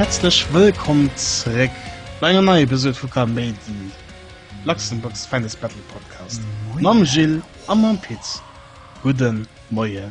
Häerzlech wëllkomm zréck bei enger neier Episod vu Kaméidi, Luxembourg's Finest Battle Podcast mam Gilles a mam Pit. Gudde Moie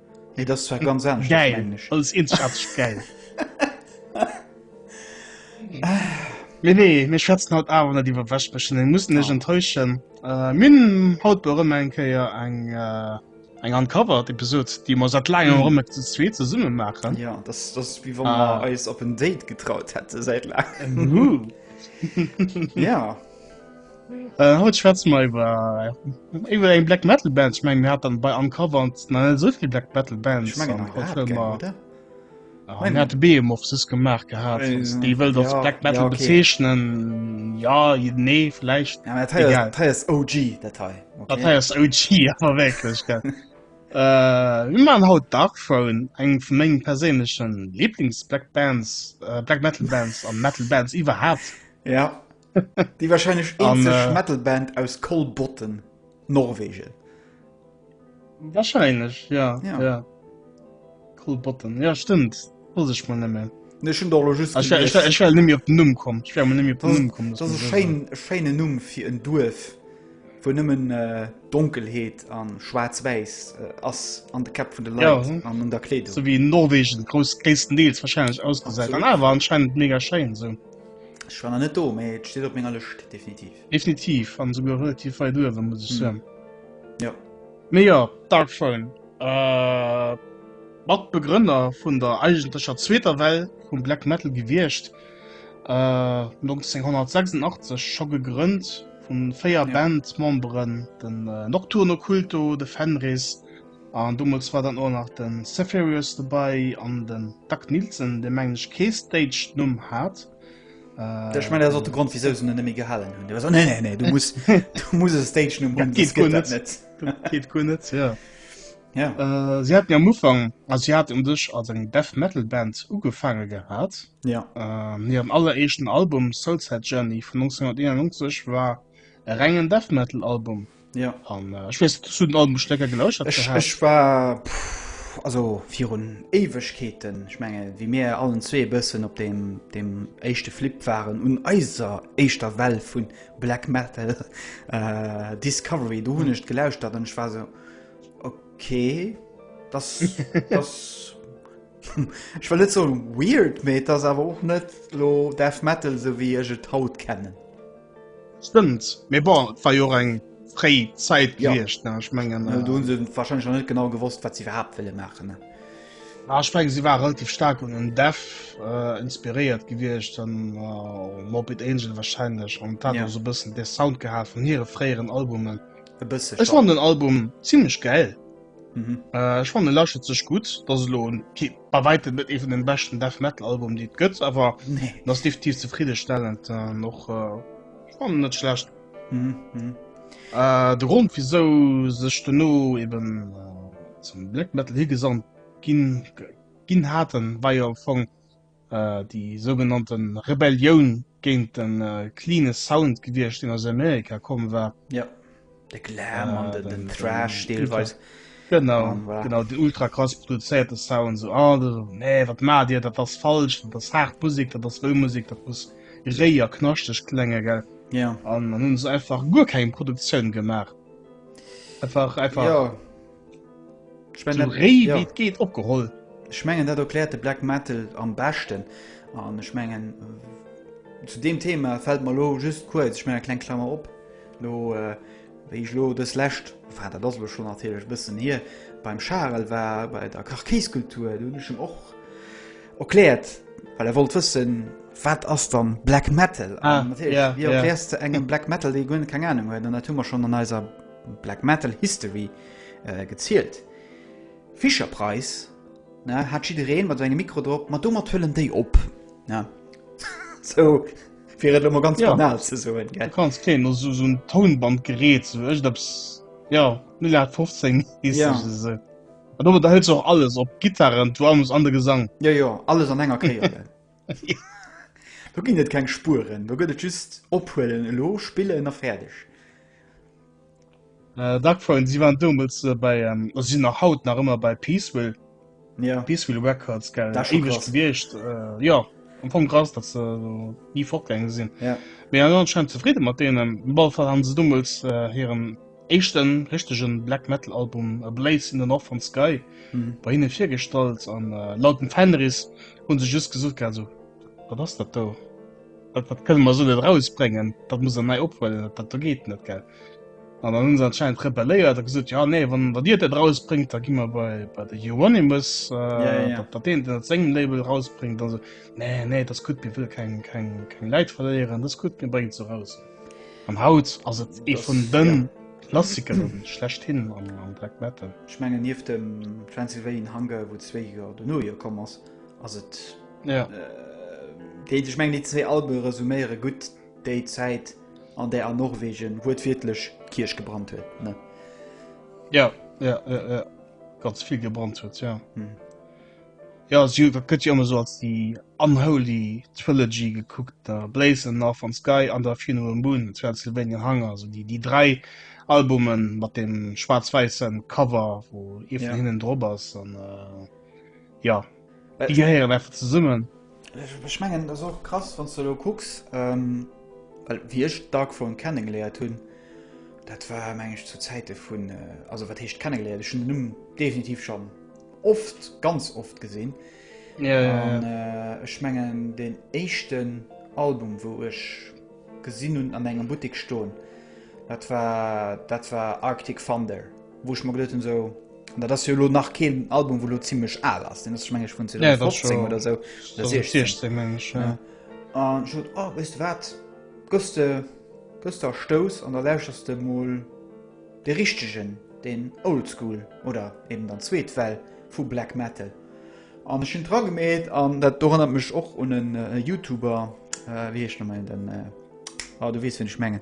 Nee, das war ganz anders. Geil. Als Inschatz geil. nee, nee, mir schwätzen haut aber nicht über Waschbrechen. Den muss nicht oh. enttäuschen. Äh, min haut bei Römer ein Keier ein, äh, ein Uncovered Episode, die wir seit langem mm. Römer zu zweit zusammen machen. Ja, das, das ist wie wenn ah. wir uns auf ein Date getraut hätten seit langem. ja. Äh, haut schwätze mer iwwer iwwer eng Black Metal Band. Ich meng mir hat dann bei Uncover an na so viel Black Metal Band ich mein, ah, hat Beem of sis gemacht gehabt äh, die wëll das ja, Black Metal ja, okay. bezeichnen ja nee vielleicht ja, das heißt, das heißt OG Datei okay. heißt OG aber wirklich äh, wie man haut Dark Phone eng vu mengen perseneschen Lieblings Black Bands äh, Black Metal Bands an Metal Bands iwwer hat ja Déi wahrscheinlech eenzeg Metalband aus Kolbotten, Norwegen. Wahrscheinlech ja, ja. ja. Kolbotten ja stimmt muss ich man nemme. Numm kom Scheine Numm fir en Duerf wo nëmmen äh, Donkelheet an schwarz-wäiss äh, ass an de Kap vun de Leit ja, hm. an an der Kleet. So wie Norwegen gro Kesten Deels wahrscheinlich ausgeseit. An awer anscheinend mega Schein se. So. Ech war nach net do, mee et steet op menger Lëscht, definitiv. Definitiv, an esouguer relativ weit uewen, muss ech soen. Jo. Mee jo, Dark Throne, Matbegrënner vun der eigentlecher zweeter Well vum Black Metal gewiescht, 1986 scho gegrënnt vu véier Bandmemberen, den Nocturno Culto, de Fenris, An domols war dann och nach de Zeferius dobei an den Dag Nielsen, dee mengen ech kee Stage Numm hat. Ech mengen dat ass och de Grond wisou se en net méi gehalen hunn. Déi war sou, nee nee nee, du muss du muss e Stage Numm hunn, soss geet dat net. Dat geet guer net, jo. Jo. Si haten jo am Ufank, also si haten un sech als eng Death Metal Band ugefaange gehat. Jo. Hiren alleréischten Album Soulside Journey vun 1991 war e rengen Death Metal Album. Ja. An äh, ech wees zu den Album Stecker gelauschert. Ech, ech war pff, also virun Ewegkeeten ich menge wie mir allen zwee bëssen op dem dem echte Flip waren un eiser eischter Well vun Black Metal äh, Discovery du hunnecht mhm. gelauscht dat ech war so okay das, das ich war net so weird me das awer och net lo Death Metal so wie ech et haut kennen. Stëmmt, mee bon, et war jo och eng fréi Zäit Ja. gewiescht, ne? Ech mengen, An do hu se wahrscheinlech nach net genau gewosst, wat se iwwerhaapt wëlle maachen. Ne? ah, ech mengen, si war relativ staark un en Dev äh, inspiréiert gewiescht, an äh, Morbid Angel wahrscheinlech, an dat Ja. ja. so bëssen de Sound gehat vun hire fréieren Albumen. E bësse Ech schon. fand den Album ziemlech geil. Mhm. Äh, ich fand lasche sech gut das lo bei weite mit even den besten Death metal Album die gött aber nee. das definitiv zufriedestellend äh, noch äh, net schlecht mhm. mhm. äh, de Grund wieso sech du no eben äh, zum Black metal hier gesamt gin gin hatten war ja von déi sougenannte Rebellioun géint de cleane Sound gewiescht, deen aus Amerika komm war. Ja, de Glam an äh, den Thrash deelweis. Genau, um, voilà. genau den ultra krass produzéierte Sound so oh, du, nee, wat ma dir dat ass falsch, dat ass hart Musik, dat ass Musik, dat muss réier knaschteg klenge gell. Ja. An hunn se einfach guer keng Produktioun gemacht. Einfach einfach. Ja. ich mein, so rei, ja. geht opgeholt ich mengen dat erklärt de black metal am besten an ich mengen zu dem thema fällt mal lo just kurz ich meine klein klammer op lo äh, ich lo das läscht vater das schon natürlich bisschen hier beim charel war bei der karkiskultur du schon och erklärt weil er wollt wissen wat ass dann black metal ah, ja, ja. engem black metal die keine ahnung dann hat schon an eiser bei Black Metal History gezielt. Fisher Price hat jidereen mat engem Mikro drop, ma domat hëllen déi op. Fir et ëmmer ganz banal ze soen. Du kanns keen no sou en Tounband gereet sou echterps jo 0815 is esou. Ma domat hëls och alles op, d'Gittaren, d'Drums an de Gesang. Jo jo, alles an enger Kéier. Do ginn et keng Spueren, do gëtt et just ophuelen elo, spillen a fäerdeg. Äh, Dark Throne, si waren doumools bei, also si sinn nach haut nach ëmmer bei Peaceville. Ja. Peaceville Records, gell. Dat ass scho krass. Gewiescht, äh, jo, am Fong krass, datt se ni fortgaange sinn. Ja. Mee anscheinend zefridde mat deenen. Op alle Fall hu se doumools hiren. éischten richtegen Black Metal Album A Blaze in the Northern Sky bei hinnen virgestallt an laut dem Fenriz hunn se just gesot gehat esou, wat ass dat do, dat kënne mer esou net erausbréngen, dat muss der nei ophuelen, dat do geet net gell. An dann hunn se anscheinend rebelléiert a gesot, jo nee wann wann dir dat erausbréngt da gi mer bei bei de Euronymous dat dat deen dat sengem Label erausbréngt, an se, nee nee, dat ass gutt, mir wëlle keng keng keng Läit verléieren, dat ass gutt, mir bréngen et eraus. An haut ass et ee vun de Klassiker schlechthin am Black Metal. Ech mengen nieft dem Transylvanian Hunger, wou zwee Joer dono jo komm ass, ass et déi, ech mengen déi zwee Albe resuméiere gutt déi Zäit, an där a Norwegen wuertwiertlech d'Kierch gebrannt huet, ne? Jo, jo, jo, jo, ganz vill gebrannt huet, jo. Jo, dat gëtt jo ëmmer sou als déi unholy trilogy gekuckt, der Blazin' North Von Sky an der Funeral Moon vun Pennsylvania Hunger, also déi déi dräi Albume mat deem schwaarz-wäisse Cover, wou ee vun hinnen drop ass an jo déi gehéieren einfach zesummen. Ech mengen dat ass och krass wann s de elo kucks, well wéi ech d'Dark Throne kennegeléiert hunn, dat war meng ech zu Zäite vun, also wat heescht kennegeléiert, ech hunn den Numm definitiv schonn. oft ganz oft gesinn ech mengen den éischten Album wou ech gesinn hunn an engem Buttik stoen dat war dat war Arctic Thunder wou ech mer geduet hunn sou dat ass jo elo nach keen Album wou lo zimmlech al ass deen ass ech meng ech vun 2015 oder sou oder 2016 meng ech jo an ech sot oh weess de wat gëss de gëss de a stouss an da lauschters de mol De richtegen, den Old School oder eben dann zweet Well vu Black Metal. An ech hunn et dragemeet an dat dorënnert mech och un en Youtuber, wéi heescht noméi den, ah du weess wien ech mengen.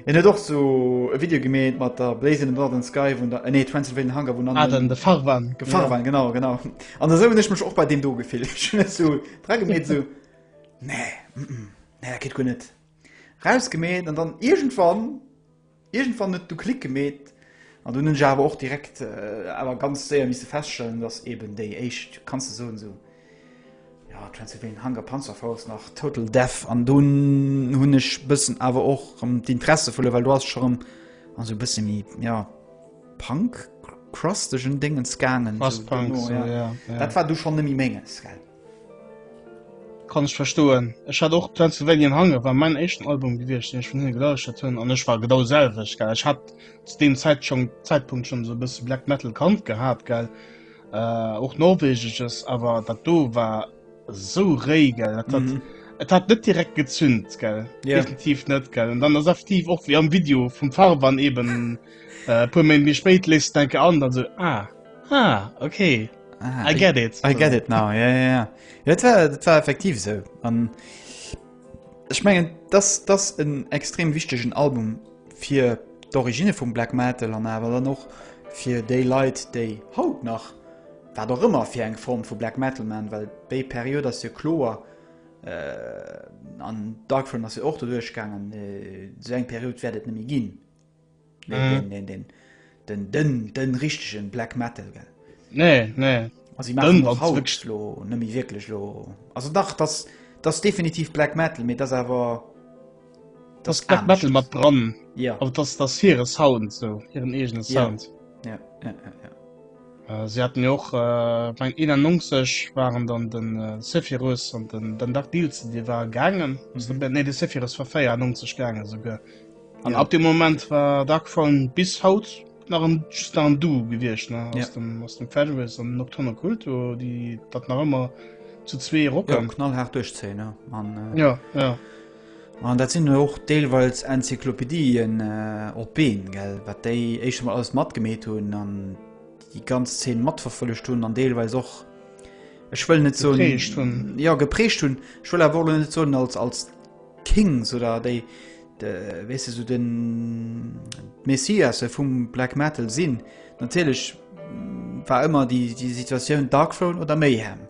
En huet och sou e Video gemeet mat der Blaze in the Northern Sky vun der, nee Transylvanian Hunger vun an den de Farwan, de Farwan genau genau. An esou hunn ech mech och bei deem do gefillt. Ech hunn esou dragemeet esou nee, nee dat geet guer net. Rausgemeet an dann iergendwann Iergendwann huet du Klick gemeet an dunn hunn ech awer och direkt awer ganz séier misse feststellen, dass eben déi éischt, kanns de soen, esou, jo, Transylvanian Hunger, Panzer Force nach Total Death an dunn hunn ech bëssen awer och erëm d'Interesse verluer, well do ass ech erëm an esou e bësse méi, jo, Punk-crustegen Déngens gaangen. Crust-Punk, esou, jo. Dat war du schonn net méi Menges, gell? Kann ech verstoen. Ech hat och Transylvanian Hunger war mein éischten Album gewiescht deen ech vun hinne gelauschtert hunn an ech war genau d'selwecht gell. Ech hat zu deem Zäit schon Zäitpunkt schon esou e bësse Black Metal kannt gehat gell, och norwegesches awer dat do war esou réi gell dat hat et hat net direkt gezünt gell, definitiv net gell. An dann ass effektiv och wéi am Video vum Farban eben e puer Méint méi spéit lees de d'Denke an dann esou ah ah ok. Ah, I get it. I get it now. Ja, ja, ja. Dat war, dat war effektiv so. An ich mengen, das, das en extrem wichtigen Album fir d'Origine vum Black Metal an awer dann noch fir déi Leit, déi haut nach war doch ëmmer fir eng Form vu Black Metal man, well déi Period ass jo kloer äh, an Darkfront ass jo och doduerchgaangen, äh, so eng Period wäert et nemmi ginn. den den den richtigen black metal gell nee nee also sie machen noch haut lo nimi wirklich lo also dach das das definitiv black metal mit das aber das, das black metal mat dran ja aber das das ihre sound so ihren eigenen sound ja. Ja, ja, ja, ja. Äh, sie hatten och äh, beim 91 waren dann den äh, Sephirus an den, den Dach Deals, die war gangen mm -hmm. nee, de Sephirus verfeier 90 gangen sogar. An ab dem Moment war Dark Throne bis haut nach en, just nach en Duo gewiescht, ne? Aus, ja. dem, aus dem Federalist an Nocturnal Cult, wo die dat nach ëmmer zu zwee rocken. Ja, knallhart durchzeen, ne? An, äh, ja, ja. An dat sinn och deelweils Enzyklopädien äh, op Been, gell? Wat déi éischt mal alles matgemeet hunn an die ganz Zeen matverfollecht hunn an deelweils och Ech wëll net so. Gepreecht hunn. Ja, gepreecht hunn. Ech wëll awer net so als, als Kings oder déi de wees du so den Messiasse vum Black Metal sinn. Natierlech mm, war ëmmer die die Situatioun Darkthrone oder Mayhem.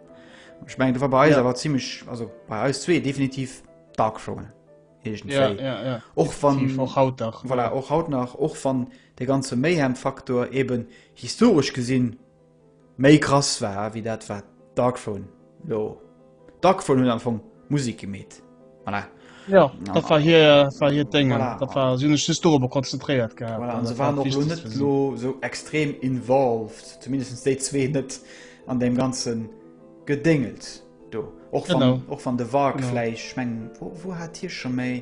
Ich meng du war bei ja. war ziemlich also bei eis zwee definitiv Darkthrone. Ja, ja, ja. och van, auch haut nach voilà, auch haut nach och van de ganze Mayhem Faktor eben historisch gesinn Méi krass war ewéi dat war Darkphone lo. Darkphone huet am Fong Musik gemeet. Voilà. Jo, dat war hir, war hiert Déngen. Voilà. Dat war, si hunn sech just dorobber konzentréiert gehat. Voilà, an se waren och lo net lo sou extrem involved, zumindest déi zwee net, an deem ganze Gedéngels do. Och wann, och wann de Warg vläicht, ech mengen, wou hat hie scho méi.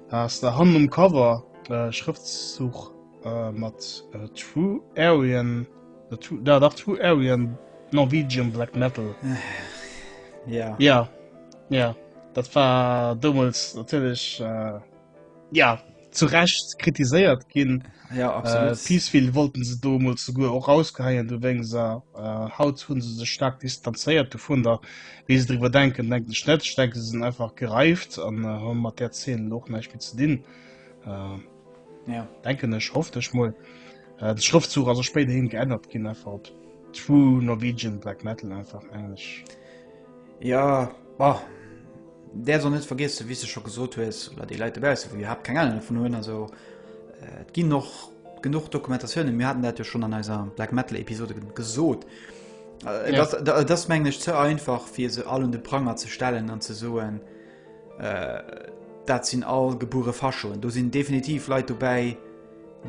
Ass der hannen um Cover e Schrëftzuch mat True Aryan, da dach, True Aryan Norwegian Black Metal? Jo. Jo, jo, dat war doumools natierlech, jo, zu Recht kritiséiert ginn. Jo, absolut. Peaceville wollten se doumools souguer och erausgeheien, dowéinst, a haut hu se sech staark distanzéiert dovunner. Wéi se driwwer denken, denken ech net. Ech denke se sinn einfach gereift an äh, hu mat der Zeen och näischt méi ze dinn. Äh, ja. Denken ech hofft ech moll. Äh, de Schrëftzug also spéider hin geännert ginn einfach op True Norwegian Black Metal einfach englisch. Ja bah. der soll net vergisse wie se schon gesot hues oder die Leute besser wie habt keine Ahnung vu hun also äh, ginn noch Genuch Dokumentatiounen, mir haten dat jo schonn an eiser Black Metal Episode gesot. Äh, ja. dat, dat mengen ech ze einfach fir se all un de Pranger ze stellen an ze soen äh, dat sinn all gebure Faschoen. Do sinn definitiv Leiit dobäi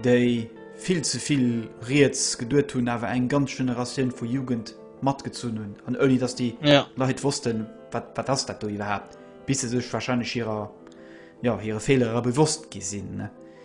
déi vill zevill Reets geduert hunn, awer eng ganz Generatioun vu Jugend matgezun hunn an oni dats die ja. Leiit wossten wat, wat ass dat do iwwerhaupt bis se sech wahrscheinlich hireer ja, hire Fehlerer bewosst gesinn.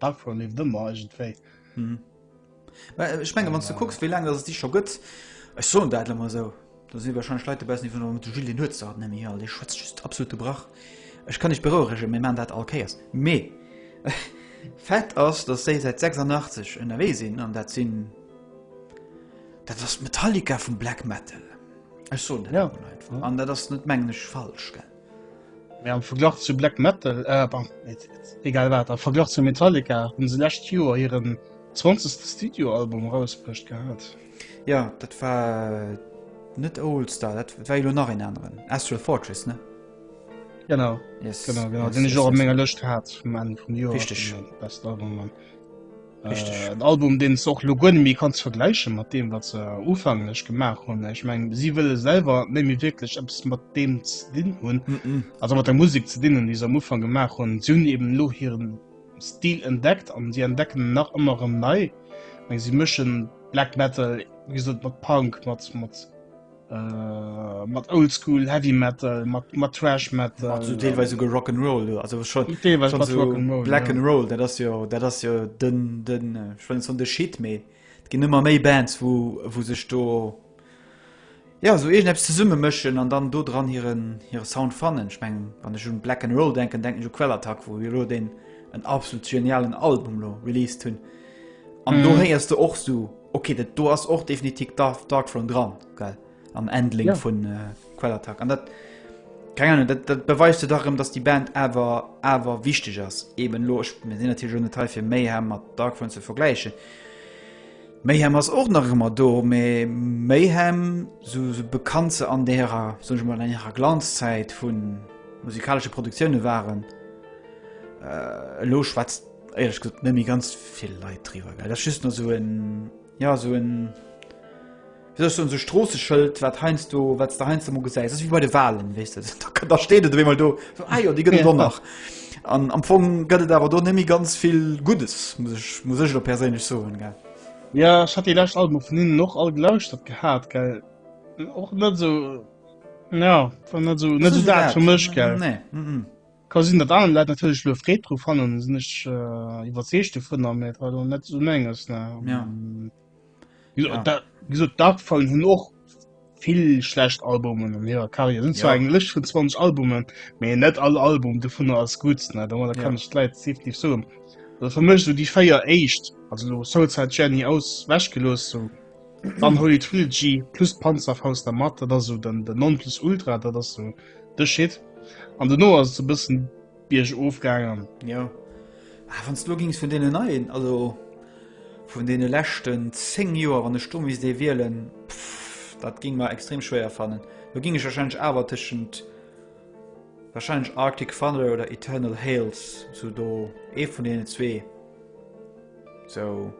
Darkfront leeft ëmmer iergendwéi. Mhm. Mä äh, ech menge wann du kucks, wéi laang dat Di scho gëtt, Ech soen dat lemmer sou. Da si wahrscheinlech Leit bessen iwwer mat Gil den huet hat nemmi all Di schwëtzt just absolute Brach. Ech kann ech berourege mé man dat all Kéiers. Mee Fett ass, datt séi seit 86 ënnerwee sinn an dat sinn dat ass Metallica vum Black Metal. Ech soen dat ja. einfach. An dat ass net mengeneg falsch gell. Mee am Verglach zu Black Metal, eh pardon, egal wat, am Verglach zu Metallica hunn se lescht Joer hiren 20. Studioalbum erausbruecht gehat. Jo, dat war net Oolstar, dat war jo elo nach een aneren, Astral Fortress, ne? Genau, genau, genau, deen ech och op menger Lëscht hat vum Enn vum Joer, richteg, vun de Best Album an. Richteg. En Album, deen s de och elo guer net méi kanns vergläiche mat deem, wat se ufängelech gemaach hunn. Ech meng, si wëlle selwer net méi wierklech eppes mat deem ze dinn hunn, also mat der Musek ze dinn hunn, déi se am Ufank gemaach hunn. Si hunn eben elo hiren Stil entdeckt an si entdecken en nach ëmmer erëm nei. Ech meng, si mëschen Black Metal, wéi gesot, mat Punk, mat, mat. Äh, mat oldschool heavy metal mat mat trash metal also teilweise go rock and roll also schon teilweise schon so rock and roll, black ja. and roll das ja der das ja den den äh, schon so de shit me gehen immer me bands wo wo sich do ja so irgend zu summe mischen an dann do dran ihren ihre sound fannen ich mein, wann ich schon black and roll denken denken so quellattack wo wir den en absolut genialen album lo release tun An mm. do héiers du och so okay, dat do ass och definitiv Dark Dark Front dran geil am Endling ja. vun äh, Quellattack an dat keine Ahnung, dat, dat beweist du darum, dass die Band awer awer wichtig ass eben loch mir sinn natürlich schon Teil fir méi her mat Dark Front ze vergleichen. Mayhem ass och nach ëmmer do méi Mayhem so, so bekannt ze an derer so mal an ihrer Glanzzeit vun musikalsche Produktionioune waren äh, lo schwätzt Ehrlech gesagt, mir ganz vill Leit driwer gell das just nur so en ja so en wieso so so Strosseschëld wat heinst du wat der heinst du mo gesäis das wie bei de Wahlen wees du da, da steht et mal do so, ah, ja, die gëtt ja. nach an am Fong gëtt et awer do nemmi ganz vill Gutes muss ich muss ich lo perséinlech soen gell ja ich hat die lacht Album vun hinnen noch all gelauscht dat gehat gell och net so ja net so net so dat fir mech gell nee mm -mm. Ka sinn, datt aner Leit natierlech elo Freed dru fannen, sinn ech iwwerzeegt dovun, mä et war lo net esou Menges. Gesot d'Darkphone hunn och vill schlecht Albumen an hirer Karriär, hunn zwar eng Lëscht vun 20 Albumen, mä net all Album dovunner ass gutt. Domadder kann ech d'Leit definitiv soen. Also fir mech sou déi véier éischt, also elo Soulside Jenny aus wech gelooss, sou dann Holy Trilogy plus Panzerfaust dermat, dat ass sou den Non-Plus-Ultra, dat ass sou. Dech Shit. An dono ass et sou bëssen biergof gaangen. Jo. Ah, wann s du elo gings vun deenen neien, also vun deene leschten 10 Joer, wann ech do misst ee wielen, pff, dat géing mer extrem schwéier fannen. Do géing ech warscheinlech awer tëschent warscheinlech Arctic Thunder oder Eternal Hales, sou do ee vun deenen zwee. Sou.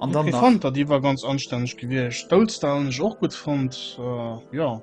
An dann nach. Fanta, déi war ganz anstänneg gewiescht. Stolz Town hunn ech och gutt fonnt. Äh, jo.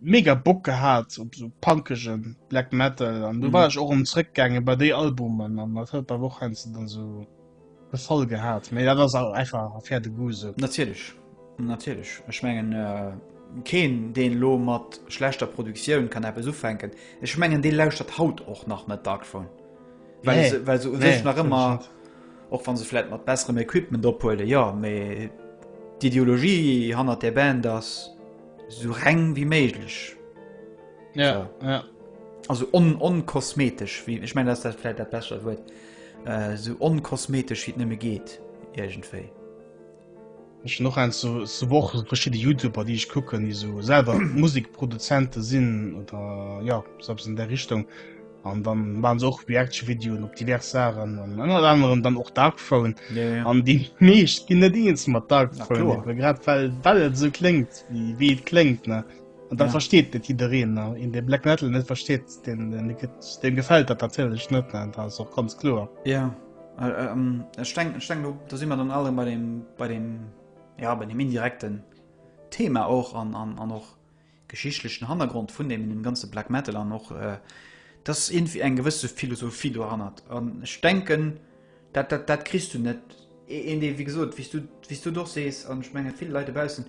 mega Bock gehat op sou punkegen Black Metal an du war ech och um zréck gaange bei déi Albumen an dat huet bei woch heinsst du dann sou gefall gehat méi dat ass awer einfach a fair de goût sou natierlech natierlech ech mengen äh, keen deen lo mat schlechter Produktioun kann eppes ufänken ech mengen dee lauschtert haut och nach net Darkphone well nee. se, well se nee, sech nach ëmmer och wann se flläit mat besserem Equipment ophuele ja méi d'Ideologie hannert der Band ass So reng wie méiglech. Ja, so. ja. Also onkosmetesch on ich mein dass dat vielleicht der besser huet äh, so onkosmetesch wie nëmme geht irgendwei. Ech noch en so, so woch verschschiide Youtuber, déi ich kucken, déi so selwer Musikproduzente sinn oder ja selbst in der Richtung. An dann waren se och Reaction-Videoen op divers Sachen an ënnert anerem dann och Dark Throne. Ja, ja. An déi meescht ginn net eens mat Dark Na Throne, klar. awer grad well well et esou kléngt wéi wéi et kléngt ne. An dat Ja. versteet net jiddereen ne. Een dee Black Metal net versteet, deen dee gëtt deem gefält dat natierlech net ne, dat ass och ganz kloer. Ja, äh, ähm, ech denk, ech denk, do, do si mer dann alle bei dem, bei dem, ja, bei dem indirekten Thema och an, an, an och geschichtlechen Hannergrond vun deem ganze Black Metal an och dass iergendwéi eng gewësse Philosophie dohannert an ech denken dat dat dat kriss du net een dee wéi gesot wéi s du wéi s du et och sees an ech menge vill Leit dobaussen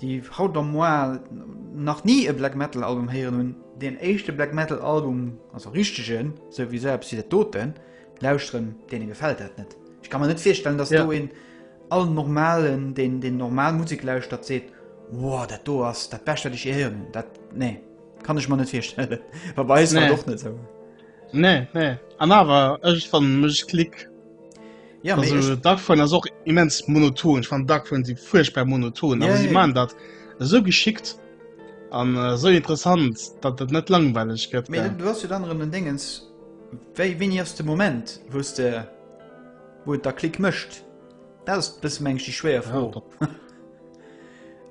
déi haut am Mois nach ni e Black Metal Album héieren hunn deen éischte Black Metal Album also richtegen esou wéi esou eppes wéi dat doten Lauschteren, deene gefällt dat net. Ech kann man net virstellen, dass ja. do en all normalen den den normal Musik lauscht dat seet wow, dat do ass dat best wat ich ehieren dat nee kann ich man net virstellen wobei nee. doch net so. Nee, nee. An awer ech van mech klick ja, also, da vun ass och immens monoton van da vun si furchtbar monoton ja, si ja. man dat so geschickt an äh, so interessant dat dat net langweilig gëtt du hast du dann den dingens Wéi, wéini ass de Moment, wou s de, wou et da Klick mécht? Dat ass bësse mengen ech déi schwéier Fro.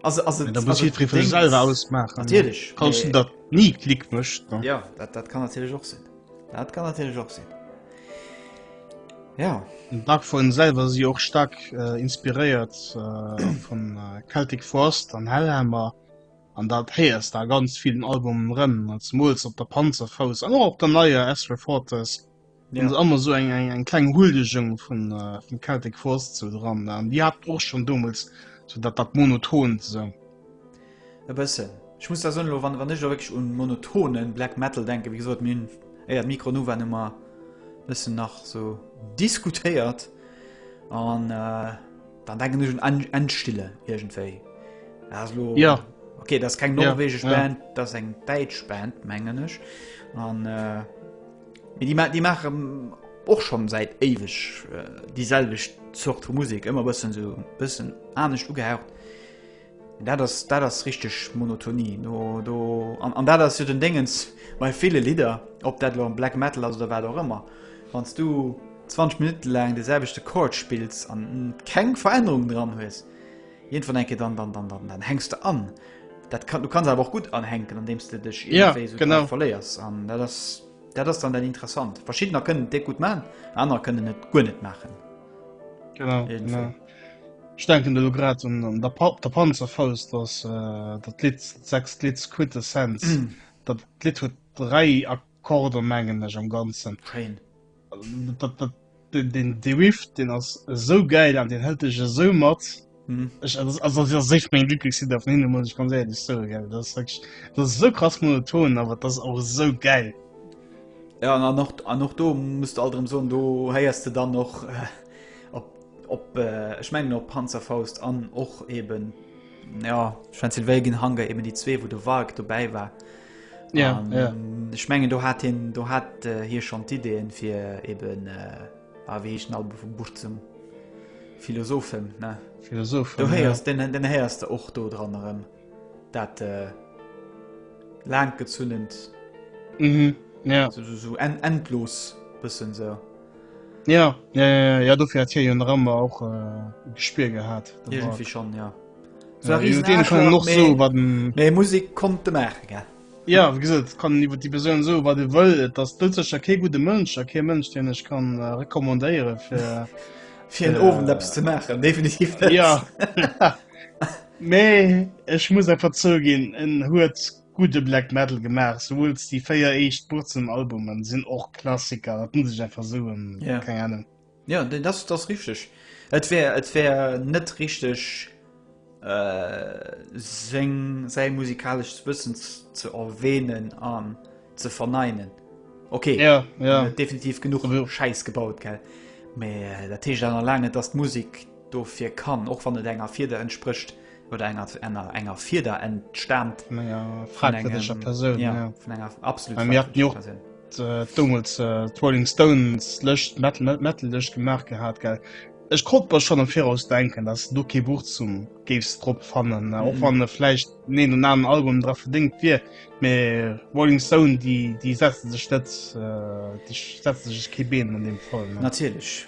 Also, also, da muss jiddweree fir sech selwer ausmaachen. Natierlech. Falls en dat ni Klick mécht, dann. Jo, dat, dat kann natierlech och sinn. Dat kann natierlech och sinn. Jo. Den Dark Throne selwer si och staark inspiréiert vun Celtic Frost an Hellhammer. An dat héiers de a ganz villen Albumen erëm, zemools op der Panzerfaust an och op der neier As Refortes, hunn se ëmmer esou eng kleng Huldegung vun Celtic Frost sou dran. An Dir hat och schonn domols sou dat dat Monotont esou. E bëssen. Ech muss da soen, elo wann ech da wierklech un monotone Black Metal denken, wéi gesot, mir hunn éier d'Mikro un waren, hu mer e bëssen nach esou diskutéiert an. Dann denken ech un Endstille irgendwéi. Das lo, ja. Okay, das ist kein norwegisch ja, Band, ja. das ist eng däitsch Band, mengen ech. An, äh, die, die machen och schon seit ewech äh, dieselbeg Zort vu Musik, ëmmer bëssen so bëssen anecht ugehaucht. Dat ass, dat ass richteg Monotonie. No, do, an, an dat ass jo den Déngens bei ville Lidder, ob dat lo Black Metal ass oder wat och ëmmer. Wann s du 20 Minutte laang de selwechte Chord spills an keng Verännerung dran hues, iergendwann enke dann, dann, dann, dann, dann hänks de an. Dat kann, du kanns awer och gutt anhänken, andeems de dech Ja, iergendwéi esou genau. dran verléiers. An dat ass, dat ass dann dat Interessant. Verschiddener kënnen et déck gutt man, anerer kënnen et guer net maachen. Genau, Irgendwie. genau. Ech denken elo grad un, un der, op der Panzerfaust, dass äh, dat Lied, sechst Lied Quintessenz, mm. dat Lied huet drei Akkorde mengen ech am ganzen. Schein. Dat, dat, den, den, den Riff, den ass so geil an den hält ech so mat. Mhm. Ich, also, also das ist echt mein Lieblingslied auf Nino, muss ich ganz ehrlich sagen. Gell? Das, ist wirklich, das ist so krass monoton, aber das ist auch so geil. Ja, und auch, und auch da musst du all drum sagen, du hörst du dann noch. Äh Op, ech mengen op Panzerfaust an och eben ja, Transylvania ginn Hunger eben déi zwee, wou de Walk dobäi war. Ja, um, ja. Ech mengen do hat hin do hat äh, hier schon d'Ideen fir eben äh, ah, wéi echen Album vum Buch zum Philosophen ne Philosoph Du héiers ja. den den héiers der och do dran erëm dat äh, lang gezunnend mhm. ja. so, so, so en, endlos bëssen se. So. Ja, ja, ja, ja, ja, dofir hat hie jo nach ëmmer och e äh, Gespier gehat. Iergendwéi schonn, ja. Ja, jo, dee kann och so wat Mee Musik konnt de maache ge. Ja wie gesot kann iwwer déi Persoun so wat de wëll, et ass dëlzecher kee gute Mënsch a kee Mënsch deen ech kann äh, recommandéiere fir fir en Ofent Apps ze maachen definitiv net. Ja. Mee ech muss einfach zouginn en huet Gudde Black Metal gemaach, souwuels déi 4 éischt Burzum Albumen sinn och Klassiker, dat muss ech einfach soen, keng Ahnung. Jo dat ass richteg, et wär et wär net richteg seng säi musikalescht Wëssen ze erwähnen an ze verneinen, ok definitiv genuch Schäiss gebaut gell, mee dat heescht awer nach laang net dass d'Musek Dofir kann, och wann et enger Fieder entsprécht, oder enger enger enger Fieder entstaamt, vun enger fragwërdéger Persoun, ja, vun enger absolut fragwërdéger Persoun. Domols d'Rolling Stones Lëscht, Metal Metal Lëscht gemaach gehat, gell. Ech konnt mer schonn am Viraus denken, datt do kee Buch zum géifs drop fannen, och wann e vläicht den een oder aneren Album dra verdéngt wier. Mee Rolling Stone, déi déi setze sech net, déi setze sech kee Been an deem Fall. Natierlech.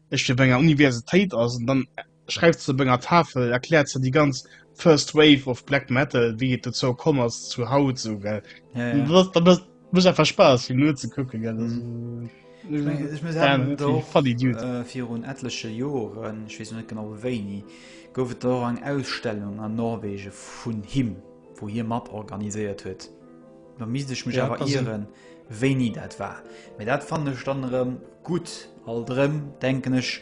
ech fir op enger Universitéit ass an dann schreift se op enger Tafel erkläert ze die ganz first wave of black metal wie et dozou kom ass zu haut so gell ja, ja. da muss einfach spaß hin nur ze gucken gell also, mhm. ich mein, ich mein, ja, äh, vir un etliche Joren ich weiß net genau wéini gouf et do eng Ausstellung an Norwegen vun him wo hier mat organisiert huet Da misst ech mech ja, awer ieren, wéini dat war. Mee dat fan ech dann erëm gutt. All drëm denken ech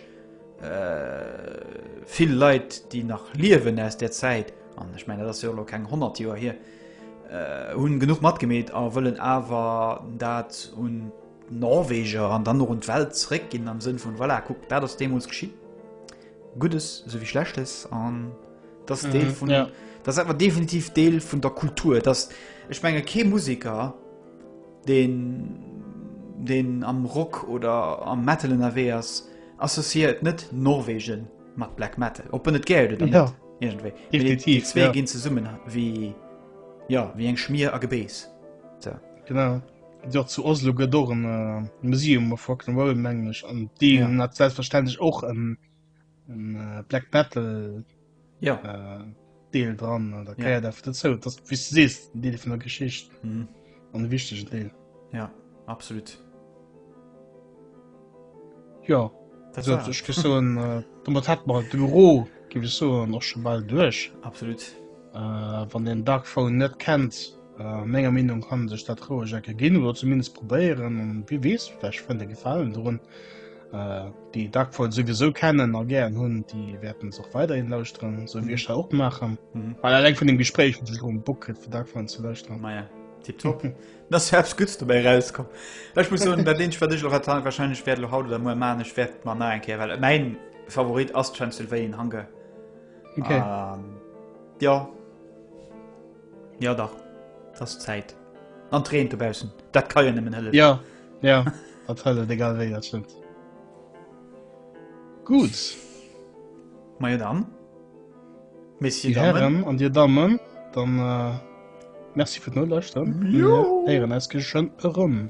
äh, vill Leit, déi nach liewen aus der Zäit, an ech menge dat ass jo lo keng 100 Joer hier, äh, hunn genuch matgemeet a wëllen awer dat un d'Norweger an dann och un d'Welt zréckginn am Sënn vun, voilà, kuckt, dat ass deemools geschitt, Guddes esou wéi Schlechtes an. Das mhm, Deel vun ja. das einfach definitiv Deel vun der Kultur, dass ech menge ke Musiker den den am Rock oder am Metal in derweers associiert net Norwegen mat Black Metal. Op net ge ja. definitiv ja. gin ze summen wie ja wie eng schmier a gebees. So. Genau dat zu Oslo gët och en äh, Museum erfockten Wallmänglech an deen ja. hat selbstverständlech och en ähm, Black Battle ja. äh, Deel dran an der Käier ja. dat zou, dat wie sees den Deel vun der Geschicht mhm. an de wichtegen Deel. Ja absolut. Ja ech gi so äh, hat mar de Büro gi so an och schon ball duerch. Absolut. Wann een Darkphone net kennt, menger Meenung kann en sech dat roueg ecke ginn oder zumindest probéieren an wie weess vläch fënnt e Gefalen drun. Déi Darkphone souwisou kennen a gären hunn, déi wäerten se och weiderhin lauschteren, sou wéi ech dat och maachen. Well eleng vun dem Gespréich hunn ech elo Bock kritt fir Darkphone ze lauschteren. Maja, tiptop. Da ass jo eppes Guddes dobäi erauskomm. Ech muss soen, dat eenzegt wat ech elo rate warscheinlech wäert elo haut oder muer maachen, ech wäert mer nach eng Kéier, well mäin Favorit ass Transylvain Hunger. Okay. Ähm, ja. Ja, dach. Das ist Zeit. An Tränen zu bausen. Das kann ja nicht mehr helfen. Ja, ja. das helfen, egal wie, das stimmt. Gut. Mal ja dann. Merci, Damen. Herren und ihr Damen, dann äh, merci für den Nullaussturm. Jo. Wir hören uns schon rum.